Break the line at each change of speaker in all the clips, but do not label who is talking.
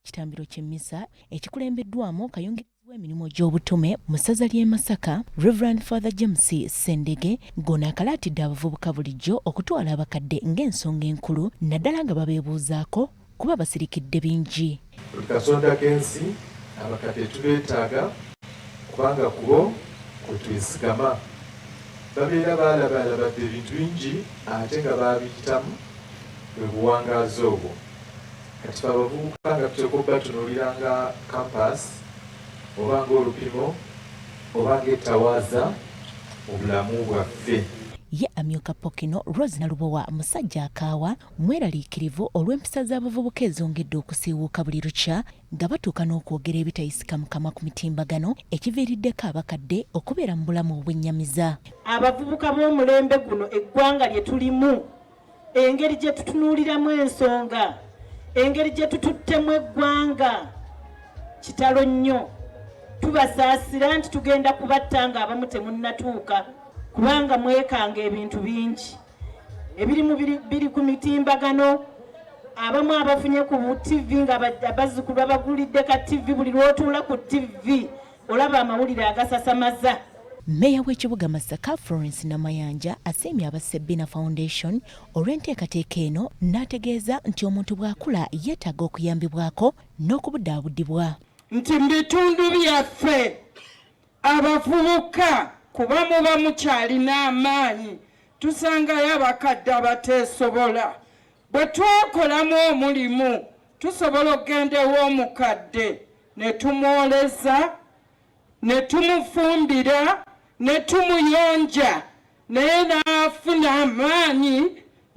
Kitambiro ky'emmisa ekikulembeddwamu kayungirizi w'emirimu gy'obutume mu ssaza ly'e Masaka, Rev. Father James Ssendege ng'ono akalaatidde abavubuka bulijjo okutwala abakadde ng'ensonga enkulu naddala nga babeebuuzaako kuba basirikidde bingi. Buli katonda
k'ensi abakadde tubeetaaga kubanga kubo kwe twesigama. Babeera baalabaalabadde ebintu bingi ate nga baabiyitamu bwe buwangaazi obwo. Kati fe abavubuka nga tuteekwa okubatunuulira nga kampaasi oba ng'olupimo oba ng'ettawaaza mu bulamu bwaffe. Ye amyuka
Pokino, Rose Nalubowa musajja akaawa, mweraliikirivu olw'empisa z'abavubuka ezongedde okusiiwuuka buli lukya nga batuuka n'okwogera ebitayisika mu kamwa ku mitimbagano ekiviiriddeko abakadde okubeera mu bulamu obwennyamiza. Abavubuka
b'omulembe guno eggwanga lye tulimu engeri gye tutunuuliramu ensonga engeri gye tututtemu eggwanga kitalo nnyo tubasaasira nti tugenda kubatta nga abamu temunnatuuka kubanga mwekanga ebintu bingi ebiri mu biri ku mitimbagano abamu abafunye ku ttivi nga bazzukulu babagulidde ka ttivi buli lwotuula ku ttivi olaba amawulire agasasamaza Mmeeya
w'ekibuga Masaka Florence Namayanja asiimye aba Sebina Foundation olw'enteekateeka eno n'ategeeza nti omuntu bw'akula yeetaaga okuyambibwako n'okubudaabudibwa nti mu
bitundu byaffe abavubuka kuba muba mukyalina amaanyi tusangayo abakadde abateesobola bwe twakolamu omulimu tusobola okugenda ew'omukadde ne tumwoleza, ne tumufumbira, ne tumuyonja naye n'afuna amaanyi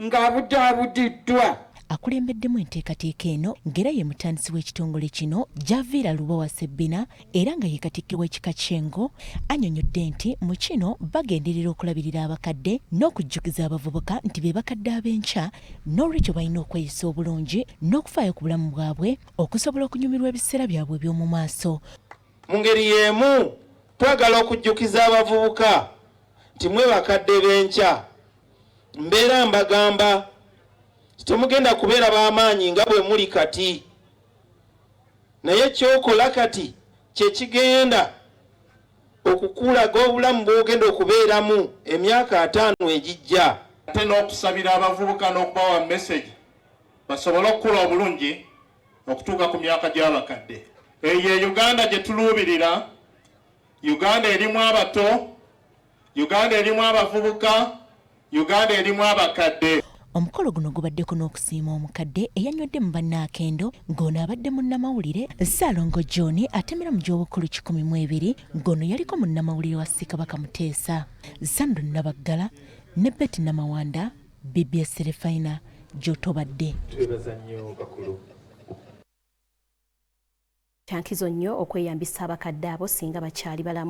ng'abudaabudiddwa. Akulembeddemu
enteekateeka eno ng'era ye mutandisi w'ekitongole kino, Javiira Lubowa Ssebbina era nga ye Katikkiro w'Ekika ky'Engo annyonyodde nti mu kino bagenderera okulabirira abakadde n'okujjukiza abavubuka nti be bakadde ab'enkya n'olwekyo balina okweyisa obulungi n'okufaayo ku bulamu bwabwe okusobola okunyumirwa ebiseera byabwe eby'omu maaso. Mu ngeri
y'emu, twagala okujjukiza abavubuka nti mwe bakadde b'enkya. Mbeera mbagamba nti temugenda kubeera ba maanyi nga bwe muli kati, naye ky'okola kati kye kigenda okukulaga obulamu bw'ogenda okubeeramu emyaka ataano egijja. Ate n'okusabira
abavubuka n'okubawa mesegi. basobole okukula obulungi okutuuka ku myaka gy'abakadde. Eyo ye Uganda gye tuluubirira, Uganda erimu abato, Uganda erimu abavubuka, Uganda erimu abakadde. Omukolo guno
gubaddeko n'okusiima omukadde eyanywedde mu banne akendo ng'ono abadde munnamawulire Ssaalongo John atemera mu gy'obukulu kikumi mu ebiri ng'ono yaliko munnamawulire wa Ssekabaka Muteesa, Zandu Nabaggala ne Betty Namawanda. Bbs Refina gy'otobadde. Twebaza nnyo
bakulu.
Kyankizo nnyo okweyambisa abakadde abo singa bakyali balamu.